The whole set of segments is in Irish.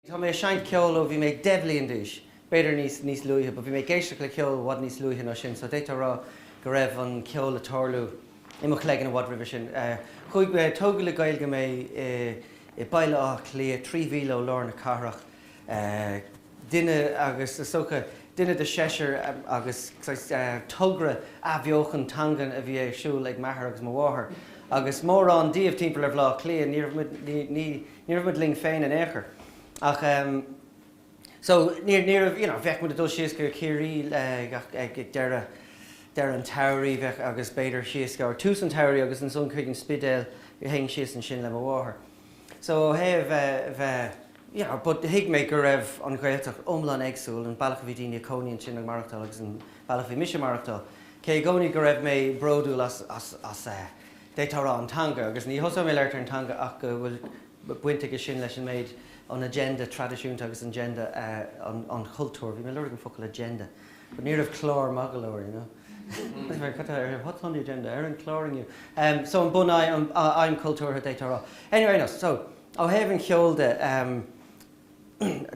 Tá mé ag seinnt ceoil ó bhí mé deich bhliain d'aois, b'fhéidir níos, níos luaithe but bhí mé ag éisteacht le ceol i bhfad níos luaithe ná sin so d'fhéadfá rá go raibh an ceol ag tarlú i mo chloigeann i bhfad roimhe sin. Chuaigh mé, tógadh le Gaeilge mé i mBaile Átha Cliath, trí mhíle ó lár na cathrach. duine as, is dócha, duine de seisear agus togra athbheochan teangan a bhí ar siúl ag m'athair agus mo mháthair agus mórán díobh timpeall ar Bhaile Átha Cliath, ní raibh muid, ní, ní, ní raibh muid linn féin in aon chor ach ehm so ní, ní raibh, you know, bheadh muid ag dul síos go Ciarraí ag, ag deireadh, deireadh an tsamhraidh bheadh agus b'fhéidir síos go, or tús an tsamhraidh agus ansan chuig an Spidéal, théinn síos ansin le mo mháthair. So ó thaobh bheith, you know, but thuig mé go raibh an Ghaeltacht iomlán éagsúil, an bealach a bhí daoine ag cónaí ansin ag maireachtáil agus an bealach a bhí mise ag maireachtáil. Cé i gcónaí go raibh mé bródúil as, as, as eh, d'fhéadfá a rá an teanga agus ní thosóidh mé ag labhairt ar an teanga ach go bhfuil baint aige sin leis an méid, an agenda traidisiúnta agus an agenda eh, an, an chultúir, bhí mé ag lorg an focal agenda but ní raibh clár maith go leor, you know. Ó thaobh an cheoil de,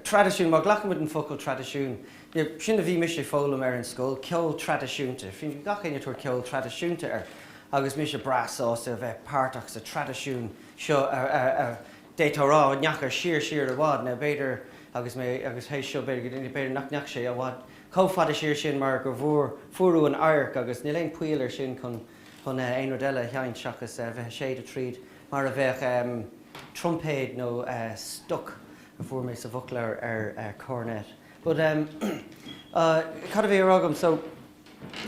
traidisiún, má ghlacaimid an focal traidisiún, sin a bhí mise ag foghlaim ar an scoil, ceol traidisiúnta. Bhí gach éinne ag tabhairt ceol traidisiúnta air agus mise breá sásta a bheith páirteach sa traidisiún seo a d'fhéadfá a rá a ndeachaigh siar, siar i bhfad. Now b'fhéidir, agus mé, agus théis seo b'fhéidir go, b'fhéidir nach ndeachaigh sé i bhfad. chomh fada siar sin mar go bhfuair fuarthas an adharc agus níl aon pholl ar sin chun aon rud eile a sheinnt seachas a bheith ag séideadh tríd mar a bheadh trumpéad nó stoc a fuair mé sa bhfoclóir ar cornet but cad a bhí á rá agam so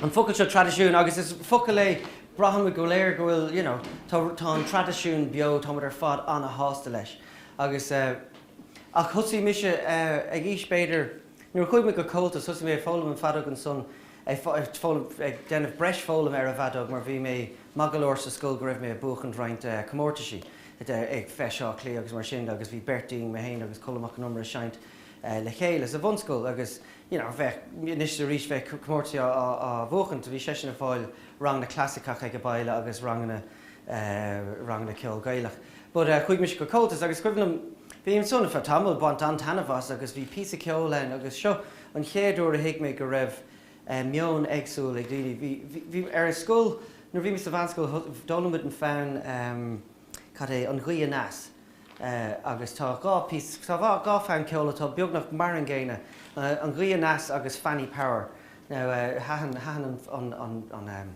an focal seo traidisiún agus is focal é braithimid go léir go bhfuil you know tá tá an traidisiún beo táimid ar fad an-shásta leis agus ach thosaigh mise ag aois b'fhéidir Nuair a chuaigh mé go Comhaltas, thosaigh mé ag foghlaim an feadóg ansan, ag foghlaim, ag déanamh breis foghlama ar an bhfeadóg mar bhí mé maith go leor sa scoil go raibh mé ag buachaint roinnt comórtaisí ag Feis Átha Cliath agus mar sin agus bhí beirt dínn, mé féin agus Colm Mac an Iomaire ag seinnt le chéile sa bhunscoil agus you know bheadh, anois is arís bheadh comórtaisí á bhuachaint, bhí seisean ag fáil ranganna clasaiceach aige baile agus ranganna ranganna ceoil Gaelach but chuaigh mise go Comhaltas agus is cuimhin liom bhí mé ansin ar feadh tamaill ag baint an-taitneamh as agus bhí píosa ceoil ann agus seo an chéad uair a thuig mé go raibh meon éagsúil ag daoine bhí bhí ar an scoil nuair bhí mé sa mheánscoil d'fhoghlaim muid an fonn cad é an ghaoth aneas agus tá dhá píosa tá dhá dhá fonn ceoil atá beagnach mar an gcéanna an ghaoth aneas agus Fanny Power now thaitin thaitin an an an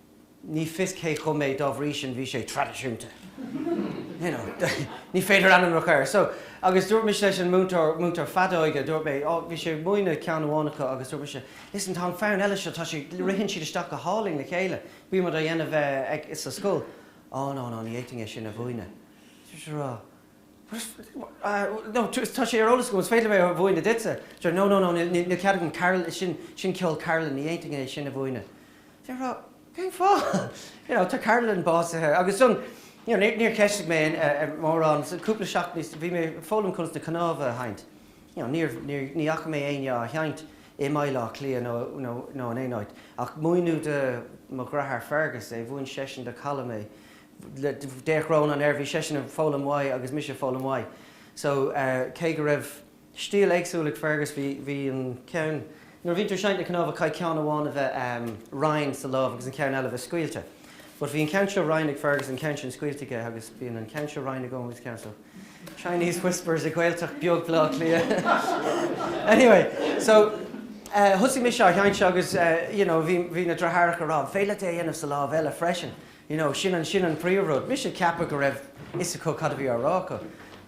ní fios cé a chum é, dá bhrí sin bhí sé traidisiúnta. you know, ní féidir ainm a chur air. So, agus dúirt mise leis an múinteoir, múinteoir feadóige, dúirt mé, oh, bhí sé ag múineadh ceann amháin acu agus dúirt mise, listen, tá an fonn eile seo, tá sé, ritheann siad isteach go hálainn le chéile, bhí muid á dhéanamh eh, ag, sa scoil. Oh, no, no, ní fhéadfainn é sin a mhúineadh. Dúirt sé, rá. no, tá sé ar eolas agam, is féidir liom é a mhúineadh duitse. Deir, no, no, no, níl cead agam, Carol, sin, sin ceol Carolan, ní fhéadfainn é sin a mhúineadh. Deir a rá, cén fáth? You know, tá Carolan básaithe agus san, you know, níor cheistigh mé mórán, san cúpla seachtain níos, bhí mé ag foghlaim conas na cnámha a sheinnt. You know, níor, níor, ní fhaca mé éinne á sheinnt i mBaile Átha Cliath nó, nó, nó in aon áit ach múineadh do mo dhreatháir Fergus é, mhúin seisean do Callum é, D'fhéach Rónán air, bhí seisean ag foghlaim uaidh agus mise ag foghlaim uaidh so cé go raibh stíl éagsúil ag Fergus bhí, bhí an ceann, nuair a bhíonn tú ag seinnt na cnámha caithfidh ceann amháin a bheith righin sa lámh agus an ceann eile a bheith scaoilte but bhí an ceann seo righin ag Fergus, an ceann sin scaoilte aige agus bíonn an ceann seo righin agam agus ceann so Chinese whispers i Gaeltacht bheag Bhleá Cliath anyway so thosaigh mise á sheinnt agus you know bhí, bhí na dreathaireacha a rá an féidir leat é a dhéanamh sa lámh eile freisin you know, sin an, sin an príomhrud. Mise ag ceapadh go raibh fhios acu cad a bhí á rá acu,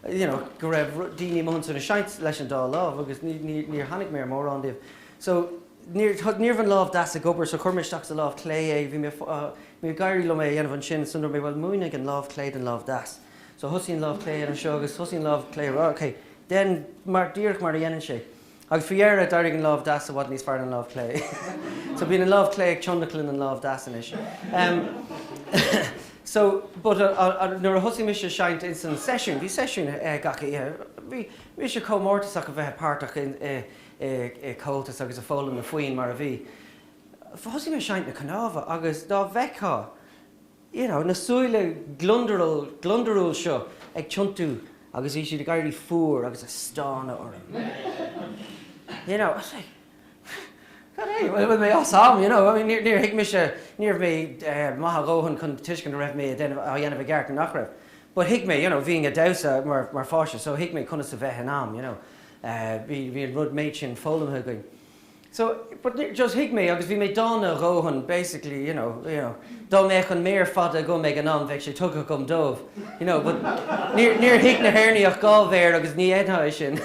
you know, go raibh rud, daoine amuigh ansin ag seinnt leis an dá lámh agus ní, ní, níor tháinig mé ar mórán díobh. So, níor, ní raibh an lámh deas ag obair so chuir mé isteach sa lámh chlé é, bhí mé, bhí ag éirí liom é a dhéanamh ansin so dúirt mé bhuel múinfidh an lámh chlé don lámh deas. So thosaigh an lámh chlé anseo agus thosaigh an lámh chlé ag rá ok, déan mar, díreach mar a dhéanann sé. Agus faoi dheireadh, d'éirigh an lámh deas i bhfad níos fearr ná an lámh chlé. So bíonn an lámh chlé ag tionlacan an lámh deas anois. So, but nuair a thosaigh mise ag seinnt ins an seisiún, bhí seisiún gach oíche, bhí mise chomh mórtasach a bheith páirteach i Comhaltas agus ag foghlaim na foinn mar a bhí. Thosaigh mé ag seinnt na cnámha agus dá bhfeictheá, you know, na súile gliondrúil seo ag tiontú agus bhí siad ag éirí fuar agus ag stánadh orm. You know, I was like, cad é, bhfuil mé as am, you know, I mean, níor thuig mise, ní raibh mé maith a dhóthain chun tuiscint a raibh mé á dhéanamh i gceart nó nach raibh. But thuig mé, you know, bhínn ag damhsa mar pháiste so thuig mé conas a bheith in am, you know, bhí an méid sin foghlamtha againn. So, but ni, just thuig mé agus bhí mé dána a dhóthain, basically, you know, you know, dá mbeadh an méar fada agam ag an am bheadh sé tugtha agam dóibh, you know, but níor, níor thuig na hÉireannaigh ach dhá mhéar agus ní fhéadfá é sin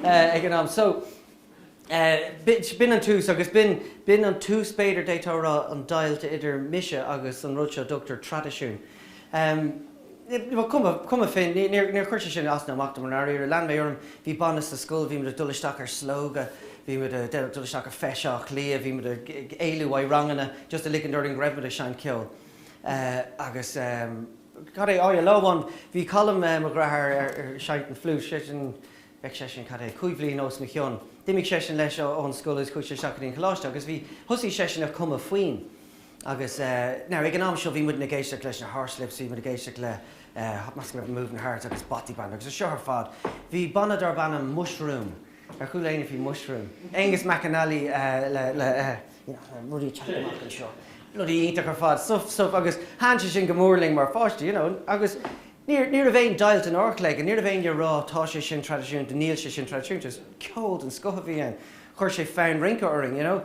eh, ag an am. So, eh, bi, b'in an tús agus b'in, b'in an tús, b'fhéidir, d'fhéadfá a rá, an deighilt idir mise agus an rud seo a dtugtar traidisiún. Em. Cuma féin, níor chuir sé sin as ná amach dom i ndáiríre. Lean mé orm, bhí banna sa scoil, bhí muid ag dul isteach ar Slógadh, bhí muid ag dul isteach ar Feis Átha Cliath, bhí muid ag éalú uaidh ranganna just le ligint orainn go raibh muid ag seinnt ceoil. Agus cad é, óir, lá amháin bhí Colm, mo dhreatháir, ag seinnt an fliúit, seisean, bheadh seisean, cad é, cúig bhliain os mo chionn. D'imigh seisean leis ón scoil agus chuaigh sé isteach go dtí an coláiste agus bhí, thosaigh seisean ag cumadh foinn. Agus, now, ag an am seo bhí muidne ag éisteacht leis na Horslips, bhí muid ag éisteacht le meascán de Moving Hearts agus Bothy Band agus é seo ar fad. Bhí banna darb ainm Mushroom, ar chuala éinne faoi Mushroom? Aonghus McAnally le, le, you know, le rudaí ag teacht amach anseo, bloody iontach ar fad, stuif, stuif agus thaithin sé sin go mór linn mar pháistí, you know, agus níor, ní raibh aon deighilt in ár chloigeann, ní raibh éinne a' rá tá sé sin traidisiúnta, níl sé sin traidisiúnta, just ceol den scoth a bhí ann, chuir sé fonn rince orainn, you know.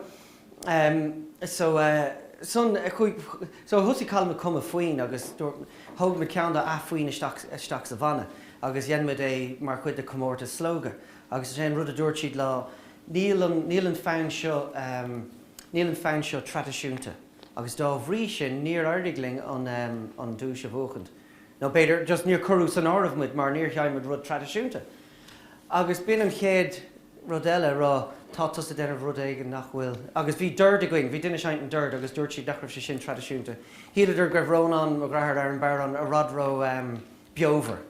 Um, so, uh, son, chuig, so thosaigh Colm ag cumadh foinn agus dúirt, thóg muid ceann de na foinn isteach, isteach sa bhanna agus dhein muid é mar chuid de chomórtas Slógadh agus is é an rud a dúirt siad ná, níl an, níl an fonn seo, um, níl an fonn seo traidisiúnta agus dá bhrí sin níor éirigh linn an, um, an duais a bhuachaint nó b'fhéidir just níor cuireadh san áireamh muid mar níor sheinn muid rud traidisiúnta agus b'in an chéad rud eile a rá, tá tusa ag déanamh rud éigin nach bhfuil. Agus bhí dord againn, bhí duine ag seinnt an dord agus dúirt siad nach raibh sé sin traidisiúnta. Shíleadar go raibh Rónán mo dhreatháir ar an bodhrán i bhfad ró beomhar.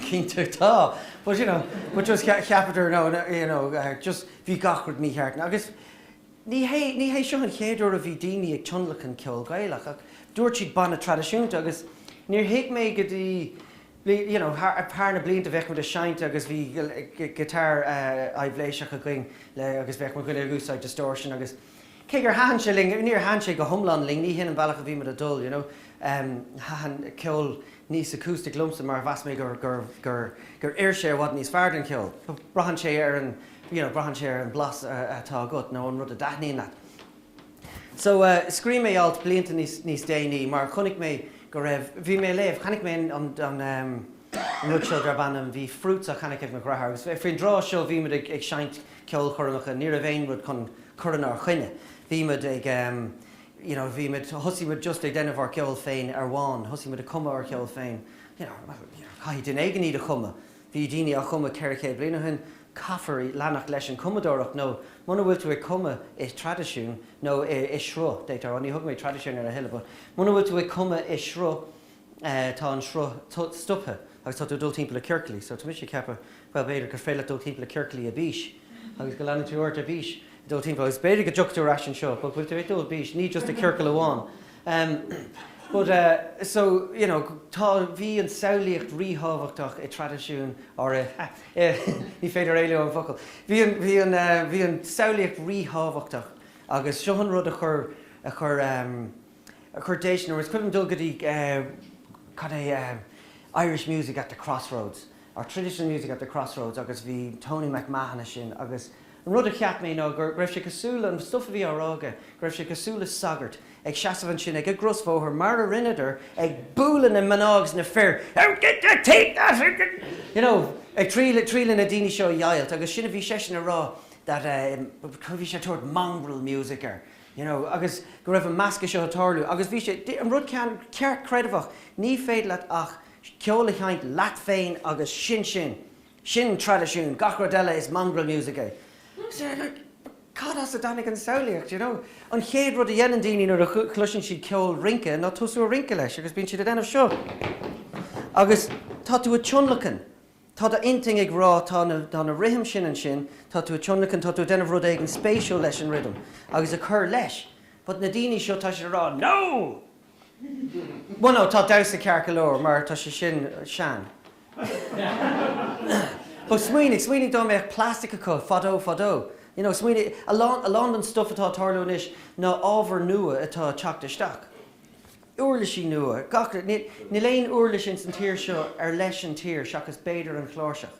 Cinnte tá, but you know, but just cheapadar no, you know, just bhí gach rud mícheart. Agus ní hé, ní hé seo an chéad uair a bhí daoine ag tionlacan ceol Gaelach ach dúirt siad banna traidisiúnta agus níor thuig mé go dtí you know thar na blianta bheadh muid a' seinnt agus bhí guitar aibhléiseach againn le agus bheadh muid uilig a' úsáid distortion agus cé gur thaithin sé linn níor thaithin sé go hiomlán linn, ní shin an bealach a bhí muid a' dul you know ehm thaithin ceol níos acoustic liomsa mar mheas mé gur gur gur gur oir sé i bhfad níos fearr don cheol, braitheann sé ar an you know braitheann sé ar an blas a atá agat nó an rud a dtaitníonn leat. So, scríobh mé alt blianta níos, níos déanaí mar chonaic mé go raibh, bhí mé a léamh, chonaic mé an, an, an, ehm, an rud seo darb ainm, bhí fRoots á cheannach ag mo dhreatháir agus faoin dtráth seo bhí muid ag, ag seinnt ceolchoirmeacha, ní raibh aon rud chun cur inár choinne, bhí muid ag ehm, you know, bhí muid, thosaigh muid just ag déanamh ár gceol féin amháin, thosaigh muid ag cumadh ár gceol féin, you know, caithfidh duine éigin iad a chumadh. Bhí daoine á chumadh ceithre chéad bliain ó shin, caithfear leanacht leis an chumadóireacht nó muna bhfuil tú ag cumadh i traidisiún nó i sruth, d'fhéadfá a rá, ní thugaim traidisiún ar a thuilleadh, but muna bhfuil tú ag cumadh i sruth tá an sruth stoptha agus tá tú ag dul timpeall i ciorclaí. So tá mise ag ceapadh bhuel b'fhéidir gur féidir leat dul timpeall i ciorclaí ar bís agus go leanann tú ort ar bís. dul timpeall agus b'fhéidir go dtiocfaidh tú ar ais anseo but bhfuil tú ag dul bís ní just i ciorcal amháin em but eh so you know tá bhí an samhlaíocht ríthábhachtach i traidisiún or eh eh ní féidir éalú ón bhfocal bhí an bhí an eh bhí an samhlaíocht ríthábhachtach agus seo an rud a chur a chur em a chur déistin orm, is cuimhin liom dul go dtí eh cad é eh Irish Music at the Crossroads or Traditional Music at the Crossroads agus bhí Tony McMahon ansin agus An rud a cheap mé ná go raibh sé cosúil le, an stuif a bhí á rá aige, go raibh sé cosúil le sagart ag seasamh ansin ag an gcrosbhóthar mar a rinneadar ag bualadh na mná agus na fir out get their teeth out of their you know ag triail triail na daoine seo a dheighilt agus sin a bhí seisean a rá that eh bhí sé ag tabhairt mongrel music air you know agus go raibh an meascadh seo ag tarlú agus bhí sé an rud ceartchreidmheach ní féidir leat ach ceol a sheinnt leat féin agus sin sin. Sin traidisiún. Gach rud eile is mongrel music é. Sea, like, cad as a dtáinig an samhlaíocht, you know? An chéad rud a dhéanann daoine nuair a chloiseann siad ceol rince ná tosú a rince leis agus bíonn siad ag déanamh seo agus tá tú ag tionlacan, tá do intinn ag rá tá na, tá na rithim sin ansin, tá tú ag tionlacan, tá tú ag déanamh rud éigin spéisiúil leis an rhythm agus ag cur leis but na daoine seo tá siad ag rá 'No! Bhuel no, tá damhsa ceart go leor mar tá sé sin sean. But smaoinigh, smaoinigh dá mbeadh plastic acu fadó fadó, you know, smaoinigh, a lán, a lán den stuff atá ag tarlú anois ná ábhar nua atá ag teacht isteach. Uirlisí nua, gach rud, níl aon uirlis ins an tír seo ar leis an tír seachas b'fhéidir an chláirseach.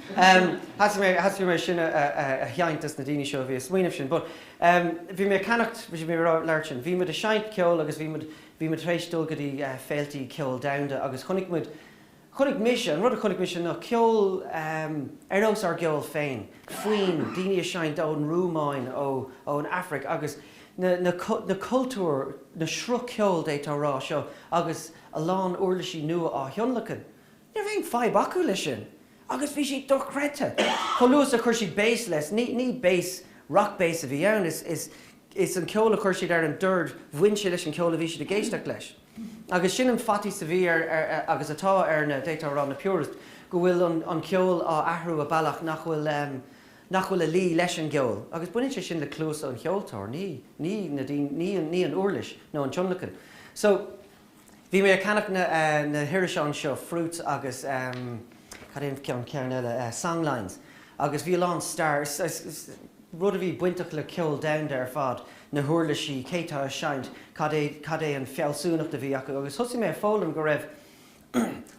Thosaigh mé, thosaigh mé sin a sheinnt dos na daoine seo a bhí a smaoineamh sin but bhí mé a ceannach, bhí mé a labhairt sin, bhí muid a seinnt ceol agus bhí muid, bhí muid tar éis dul go dtí féiltí ceol domhanda agus chonaic muid, chonaic mise, an rud a chonaic mise ná ceol ar nós ár gceol féin, foinn, daoine a seinnt ón Rúmáin, ó, ó an Afraic agus na, na, na cultúir, na sruth ceoil d'fhéadfá a rá seo agus a lán uirlisí nua á thionlacan. Ní raibh aon fadhb acu leis sin agus bhí sé dochreidte chomh luath is a chuir siad béas leis. Ní béas, rock bass, a bhí ann, is an ceol a chuir siad ar an dord, bhain sé leis an cheol a bhí siad ag éisteacht leis. Agus sin an faitíos a bhí ar, agus atá ar, na, d'fhéadfá a rá, na purists, go bhfuil an ceol á athrú i bealach nach bhfuil, nach bhfuil a luí leis an gceol. Agus baineann sé sin le cluas an cheoltóra, ní, ní na daoine, ní an uirlis nó an tionlacan. So. Bhí mé ag ceannach na hirise anseo, fRoots agus cad é an ceann eile, Songlines, agus bhí a lán staire, rud a bhí bainteach le ceol domhanda ar fad, na huirlisí, cé atá ag seinnt, cad é an fealsúnacht a bhí acu agus thosaigh mé ag foghlaim go raibh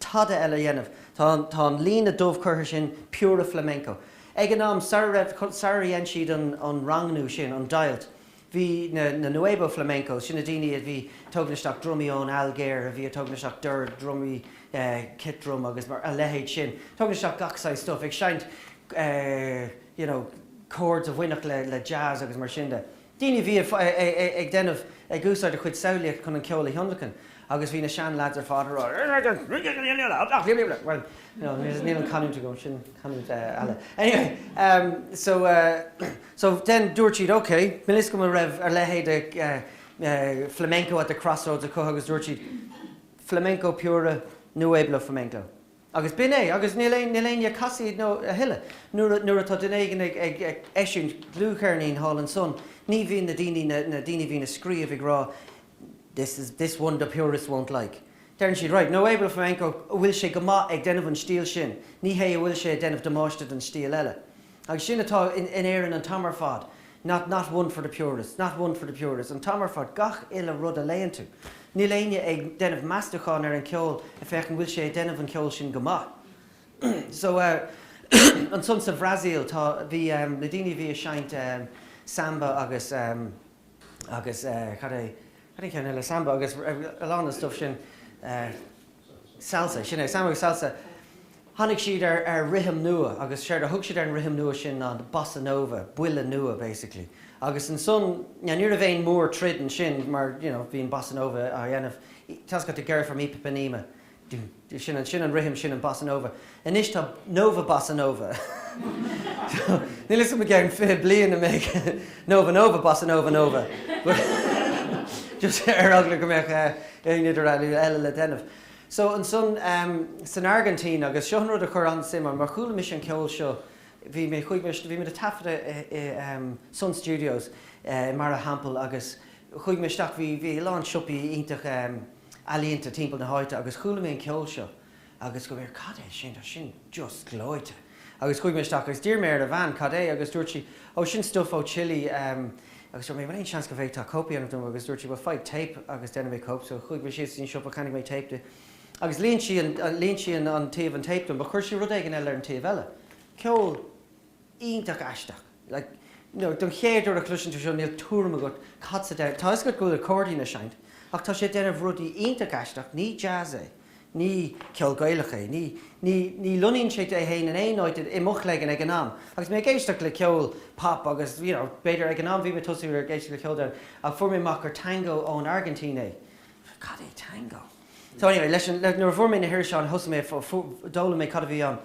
tada eile a dhéanamh. Tá an líne dubh curtha sin, puro flamenco. Ag an am, sara raibh, sara dhein siad an rangú sin, an deighilt, bhí na nuevo flamencos, sin na daoine a bhí ag tugaint isteach drumaí ón Ailgéir, a bhí ag tugaint isteach dord, drumaí, kit drum agus mar, a leithéid sin, tugaint isteach gach saghas stuif, ag seinnt, you know, chords a bhainfeadh le jazz agus mar sin de. daoine a bhí ag déanamh, ag úsáid a chuid samhlaíochta chun an ceol a thionlacan agus bhí na seanleaids ar fad ag rá Níl an chanúint agam, sin canúint eile. Anyway, so, so then dúirt siad ok, bhí 'fhios agam go raibh a leithéid de flamenco at the crossroads acu agus dúirt siad flamenco puro, nuevo flamenco. Agus b'in é. Agus níl aon, níl éinne ag casaoid a thuilleadh. Nuair, nuair atá duine éigin ag, ag, ag eisiúint dlúthcheirnín thall ansan, ní bhíonn na daoine, na, na daoine a bhíonn ag scríobh ag rá this is, this one the purists won't like. Deireann siad right, nuevo flamenco, bhfuil sé go maith ag déanamh an stíl sin, ní hé an bhfuil sé ag déanamh damáiste don stíl eile. Agus sin atá in Éirinn an t-am ar fad, not not one for the purists, not one for the purists, an t-am ar fad, gach uile rud a léann tú. Níl éinne ag déanamh meastúcháin ar an cheol ag féachaint an bhfuil sé ag déanamh an cheoil sin go maith. So ansan sa Bhrasaíl tá, bhí na daoine a bhí ag seinnt samba agus, agus cad é cad é an ceann eile, Samba agus a lán den stuif sin, Salsa, sin é, Samba agus Salsa, tháinig siad ar rithim nua agus séard a thug siad ar an rithim nua sin ná Bossa Nova, buille nua basically agus ansan now ní raibh aon mhórthroid ansin mar you know bhí an Bossa Nova á dhéanamh, tá's agat Girl from Ipanema, Sin an rithim, sin an bossa nova. Anois tá nova bossa nova. Níl 'fhios a'm i gceann fiche bliain an mbeidh nova nova bossa nova nova. Just ar eagla go mbeadh aon idirdhealú eile le déanamh. So ansan san Airgintín agus seo an rud a chuir an-suim ionam mar chuala mise an ceol seo, bhí mé, chuaigh mé, bhí muid a' taifeadadh i Sun Studios i mBarra an Teampaill agus chuaigh mé isteach, bhí, bhí a lán siopaí iontacha, ealaíonta timpeall na háite agus chuala mé an ceol seo agus dúirt mé, cad é sin, tá sin just gleoite agus chuaigh mé isteach agus d'iarr mé ar an bhean cad é agus dúirt sí oh sin stuif ó Chile ehm agus dúirt mé bhfuil aon seans go bhféadfá cóip a dhéanamh dom agus dúirt sí bhuel faigh téip agus déanfaidh mé cóip so chuaigh mé síos go dtí an siopa cheannaigh mé téip di agus líon sí an líon sí an taobh an téip dom but chuir sí rud éigin eile ar an taobh eile ceol iontach aisteach. Like, you know, don chéad uair a chloiseann tú seo níl tuairim agat cad atá sé, tá 'fhios agat go bhfuil accordion a' seinnt ach tá sé a' déanamh rudaí iontach aisteach, ní jazz é, ní ceol Gaelach é, ní, ní, ní luíonn sé é fhéin in aon áit i mo chloigeann ag an am. Agus mé ag éisteacht le ceol pop agus, you know, b'fhéidir ag an am bhí mé ag tosú ar éisteacht le ceol den ach fuair mé amach gur tango ón Airgintín é. Cad é tango? So anyway, leis an, le, nuair a fuair mé na hiriseáin thosaigh mé a fuair, d'fhoghlaim mé cad a bhí ann.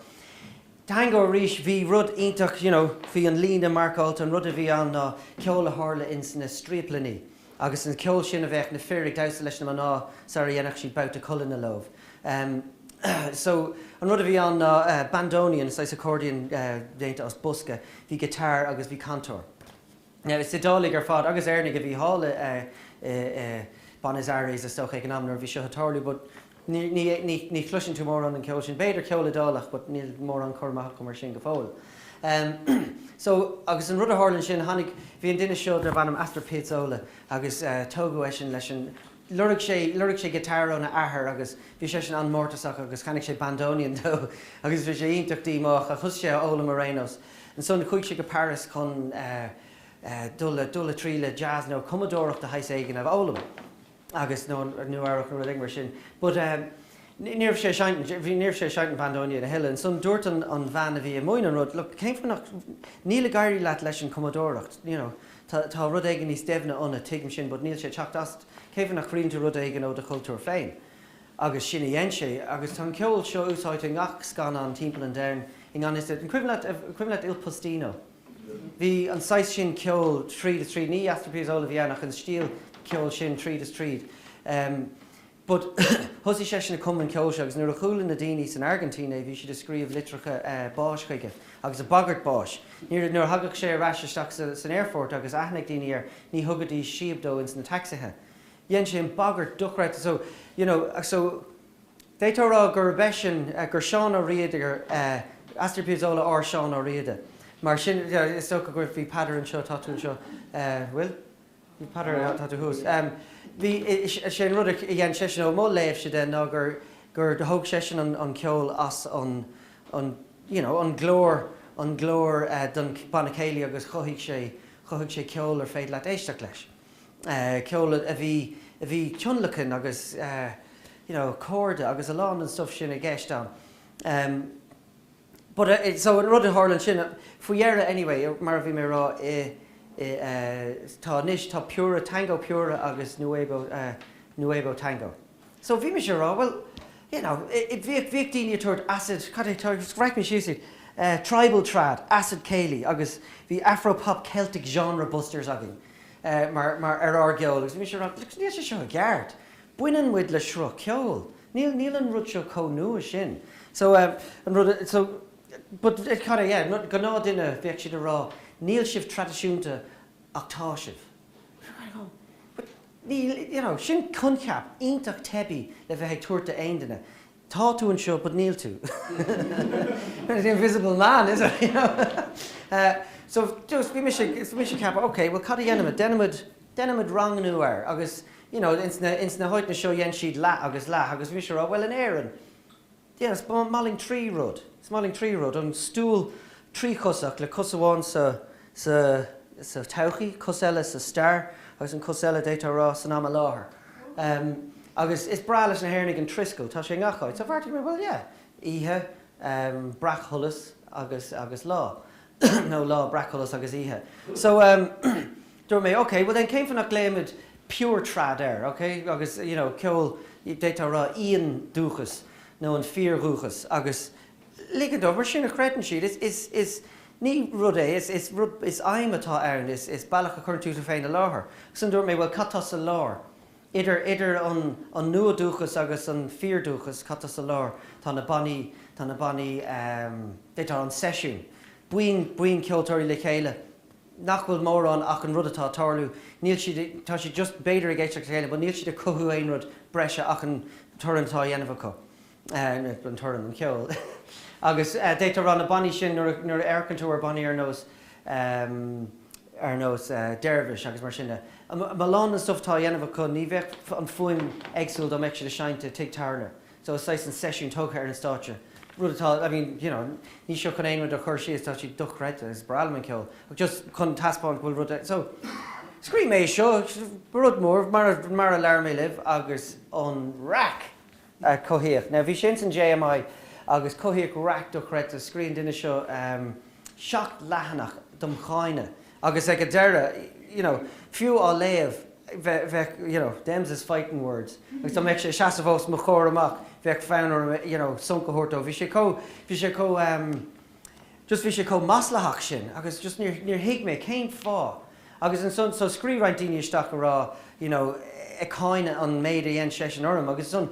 tango arís bhí rud iontach you know bhí an líne marcáilte an rud a bhí ann ná ceol a tharla ins na striaplainí agus an ceol sin a bheadh na fir ag damhsa leis na mná sara dhéanfadh siad babhta collaíochta leo ehm so an rud a bhí ann ná bandoneon saghas accordion eh déanta as bosca bhí guitar agus bhí cantor. Now, is Iodáiligh ar fad agus Éireannaigh a bhí thall i Buenos Aires, is dócha, ag an am nuair a bhí seo ag tarlú but ní chloiseann tú mórán den cheol sin, b'fhéidir ceol Iodálach but níl mórán cur amach agam mar sin go fóill. So, agus an rud a tharla ansin, tháinig, bhí an duine seo darb ainm Astor Piazzolla agus tógadh eisean leis an, lorg sé, lorg sé guitar óna athair agus bhí seisean an-mórtasach agus cheannaigh sé bandoneon dó agus bhí sé iontach díomách ach thosaigh sé á fhoghlaim ar aon nós. Ansan chuaigh sé go Paris chun eh dul le, dul le treo jazz nó cumadóireacht de shaghas éigin a fhoghlaim agus, nó an Nua-Eabhrac nó rud éigin mar sin but eh ní, ní raibh sé ag seinnt, bhí, ní raibh sé ag seinnt an bhandoneon a thuilleadh. Ansan dúirt an, an bhean a bhí i mbun an rud, look, cén fáth nach, níl ag éirí leat leis an cumadóireacht, you know, tá rud éigin níos deimhne ionat, tuigim sin, but níl sé ag teacht asat, cén fáth nach scríobhann tú rud éigin ó do chultúr féin? Agus sin a dhein sé. Agus tá an ceol seo úsáidte i ngach scannán timpeall an domhain i ngan fhios duit. An cuimhin leat, an cuimhin leat Il Postino? Bhí an saghas sin ceoil tríd is tríd, ní Astor Piazzolla a bhí ann ach an stíl ceoil sin tríd is tríd. But thosaigh seisean ag cumadh an cheoil seo agus nuair a chuala na daoine san Airgintín é bhí siad ag scríobh litreacha báis chuige agus ag bagairt báis. Nuair a thagadh sé ar ais isteach san aerfort agus aithne ag daoine air ní thugaidís síob dó ins na taxithe. Dhein sé an bagairt dochreidte so, you know, so d'fhéadfá a rá gurb eisean, gur Seán Ó Riada, gur Astor Piazzolla ár Seán Ó Riada. Mar sin, is dócha go bhfuil, bhí Peadar anseo, tá tú anseo, bhfuil? Peadar, Tá tú thuas. Bhí, sé an rud a dhein seisean, ó mo léamhse de, ná gur, gur thóg seisean an, an ceol as an, an, you know, an glór, an glór don Bhanna Céilí agus chothaigh sé, chothaigh sé ceol ar féidir leat éisteacht leis. Ceol a bhí, a bhí tionlacain agus you know, cordaí agus a lán den stuif sin i gceist ann. but eh so an rud a tharla ansin faoi dheireadh anyway mar a bhí mé a rá i i eh tá nós tá pure tango pure agus nuevo eh nuevo tango so bhí mise a rá bhuel you know i bhíodh bhíodh daoine ag tabhairt acid cad é tá bhreac mé síos iad eh tribal trad acid céilí agus bhí afro-pop celtic genre busters againn eh mar mar ar ár gceol agus bhí mise a rá níl sé seo ceart baineann muid le sruth ceoil. Níl, níl an rud seo chomh nua sin. So, an rud, so, but, cad é, yeah, gnáthdhuine, bheadh siad a rá, níl sibh traidisiúnta ach tá sibh. But, níl, you know, sin coincheap iontach teibí le bheith ag tabhairt do aon duine. tá tú anseo but níl tú the invisible man is it you know so just bhí mise ag bhí mise ag ceapadh ok bhuel cad a dhéanfaimid déanfaimid déanfaimid rangnú air agus you know ins na ins na háiteanna seo dhéan siad leath agus leath agus bhí mise a rá bhuel in Éirinn yeah is maith linn trí rud is maith linn trí rud an stúl tríchosach le cos amháin sa sa todhchaí, cos eile sa stair agus an chos eile, d'fhéadfá a rá, san am i láthair. Agus is breá leis na hÉireannaigh an triscéil, tá sé i ngach áit, so bheartaigh mé, bhuel, yeah, oíche breacsholas agus, agus lá, nó lá breacsholas agus oíche. So, dúirt mé, okay, bhuel then, cén fáth nach nglaoimid pure trad air, okay, agus, you know, ceol, d'fhéadfá a rá, íondúchas nó an fíordhúchas agus Lig dóibh sin a chreideann siad, is ní rud é, is rud, is aidhm atá ann, is bealach a chuireann tú tú féin i láthair. Agus ansin dúirt mé, bhuel, cad tá sa lár? Idir an nua-dúchas agus an fíordhúchas, cad tá sa lár? Tá na bannaí, tá na bannaí, b'fhéidir tá an seisiún, buíon, buíon ceoltóirí le chéile nach bhfuil mórán ach an rud atá ag tarlú, níl siad, tá siad just b'fhéidir ag éisteacht le chéile but níl siad ag cothú aon rud breise ach an torann atá á dhéanamh acu. An torann, an ceol. Agus d'fhéadfá a rá na bannaí sin, nuair a amharcann tú ar bhannaí ar nós, ar nós Dervish agus mar sin de, a lán den stuif atá á dhéanamh acu, ní bheadh an fuaim éagsúil dá mbeadh siad ag seinnt i tigh tábhairne. So is saghas an seisiún tugtha ar an stáitse, rud atá, I mean, you know, níl seo chun aon rud a chur síos, tá siad dochreidte, is breá liom an ceol, ach just chun taispeáint go bhfuil rud, so scríobh mé é seo, rud mór, mar a, mar a labhair mé libh, agus an raic! a cothaíodh. Now bhí sé ins an JMI agus cothaíodh raic dochreidte, scríobh an duine seo seacht leathanach dom cháineadh agus ag an deireadh you know fiú á léamh bheadh you know them's is fighting words agus dá mbeadh sé ag seasamh os mo chomhair amach bheadh fonn orm you know sonc a thabhairt dó bhí sé chomh bhí sé chomh just bhí sé chomh maslaitheach sin agus just níor, níor thuig mé cén fáth agus ansan so scríobh roinnt daoine isteach a' rá you know ag cáineadh an méid a dhein seisean orm agus ansan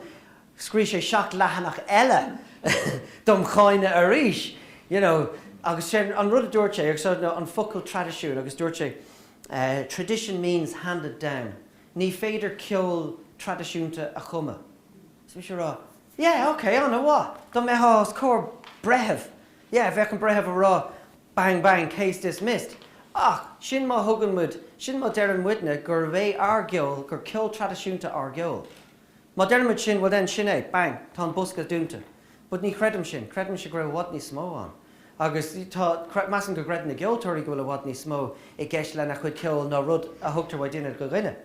scríobh sé seacht leathanach eile dom cháineadh arís you know agus sé'n, an rud a dúirt sé agus so an focal traidisiún agus dúirt sé eh tradition means handed down ní féidir ceol traidisiúnta a chumadh so bhí sé a' rá Yeah, ok, ana mhaith. Dá mbeifeá os comhair breithimh, yeah, bheadh an breitheamh a rá bang bang, case dismissed. Ach, sin má thugann muid, sin má deireann muidne gurb é ár gceol, gur ceol traidisiúnta ár gceol. Má deireann muid sin, bhuel then, sin é, bang, tá an bosca dúnta. But ní chreidim sin, creidimse go bhfuil i bhfad níos mó ann. Agus tá, measaim go gcreideann na ceoltóirí go bhfuil i bhfad níos mó i gceist lena chuid ceoil ná rud a thugtar ó dhuine go duine.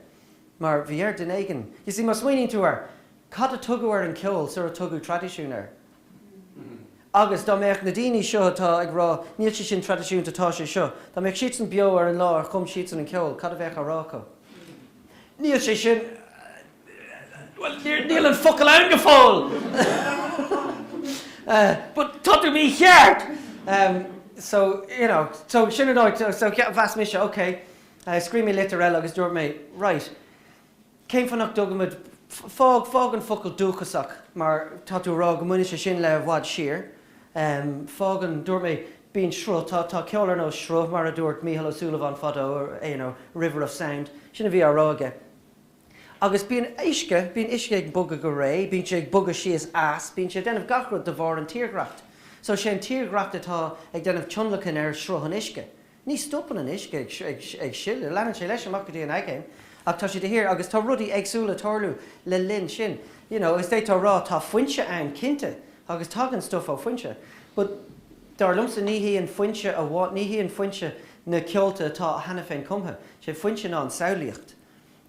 Mar bhí ar duine éigin, you see, má smaoiníonn tú air, Cad a tugadh ar an gceol sar a tugadh traidisiún air? Agus dá mbeadh na daoine seo atá ag rá 'níl sé sin traidisiúnta, tá sé seo', dá mbeadh siadsan beo ar an lá ar chum siadsan an ceol, cad a bheadh á rá acu? Níl sé sin, bhuel, níl an focal ann go fóill! But tá tú mícheart! So, you know, so sin an áit, so mheas mise, ok, scríobh mé litir eile agus dúirt mé, right, Cén fáth nach dtugaimid, fág, fág an focal dúchasach mar tá tú a rá go mbaineann sé sin le i bhfad siar, fág an, dúirt mé, bíonn sruth, tá, tá ceol ar nós sruth mar a dúirt Mícheál Ó Súilleabháin fadó, you know, a river of sound, sin a bhí á rá aige. Agus bíonn uisce, bíonn uisce ag bogadh go réidh, bíonn sé ag bogadh síos, eas, bíonn sé ag déanamh gach rud de bharr an tírdhreacht. So sé an tírdhreacht atá ag déanamh tionlacain ar sruth an uisce. Ní stopann an uisce ag sileadh, leanann sé leis amach go dtí an aigéan ach tá sé de shíor, agus tá rudaí éagsúla ag tarlú le linn sin. You know, agus d'fhéadfá a rá tá foinse ann cinnte agus tagann stuff ó foinse but dar liomsa ní hí an foinse amháin, ní hí an foinse na ceolta atá cheana féin cumtha, sé foinse ná an samhlaíocht.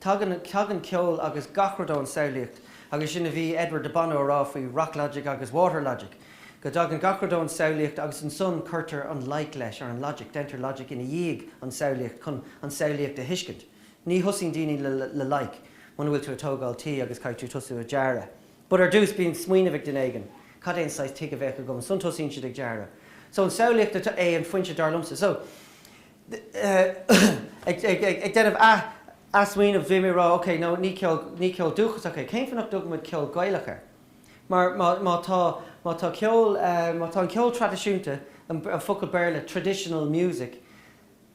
Tagann ceol agus gach rud ón samhlaíocht agus sin a bhí Edward de Bono a rá faoi Rock Logic agus Water Logic, go dtagann gach rud ón samhlaíocht agus ansan cuirtear an loighic leis, or an logic, deintear logic ina dhiaidh an samhlaíocht chun an samhlaíocht a thuiscint. Ní thosaíonn daoine le loighic muna bhfuil tú ag tógáil tí agus caithfidh tú tosú ag dearadh. But ar dtús bíonn smaoineamh ag duine éigin, cad é an saghas tigh a bheidh agam, ansan tosaíonn siad ag dearadh. So an samhlaíocht é an foinse dar liomsa. So Ag déanamh athsmaoineamh bhí mé ag rá ok no ní ceol, ní ceol dúchasach é, cén fáth nach dtugaimid ceol Gaelach air? Mar má, má tá, má tá ceol, má tá an ceol traidisiúnta, an focal Béarla traditional music,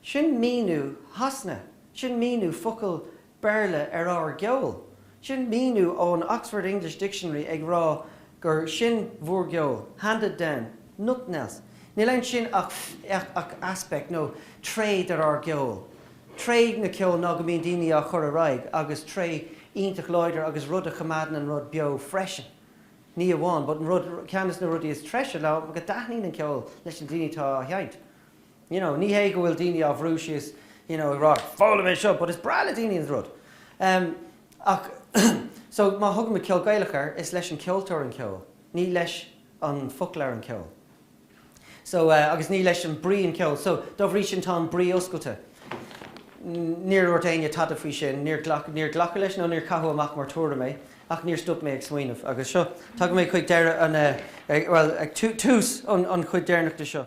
sin míniú Shasana, sin míniú focal Béarla ar ár gceol. Sin míniú ón Oxford English Dictionary ag rá gur sin bhúr gceol, handed down, nothing else. Níl ansin ach ach aspect nó tréith de ár gceol. Tréith den cheol ná go mbíonn daoine á chur ar aghaidh agus tréith iontach láidir agus rud a choimeádann an rud beo freisin. Ní amháin, but an rud, ceann des na rudaí is treise ná go dtaitníonn an ceol leis na daoine atá á sheinnt. you know ní hé go bhfuil daoine á bhrú síos you know ag rá foghlaim é seo, but is breá le daoine an rud em ach so má thugaimid ceol Gaelach air is leis an ceoltóir an ceol ní leis an foclóir an ceol so eh agus ní leis an brí an ceol so dá bhrí sin tá an brí oscailte níor dhúirt éinne tada faoi sin níor ghlac níor glacadh leis nó níor caitheadh amach mar tuairim é ach níor stop mé ag smaoineamh agus seo tagann mé chuig deireadh an eh bhuel ag tú tús an an chuid deireanach de seo.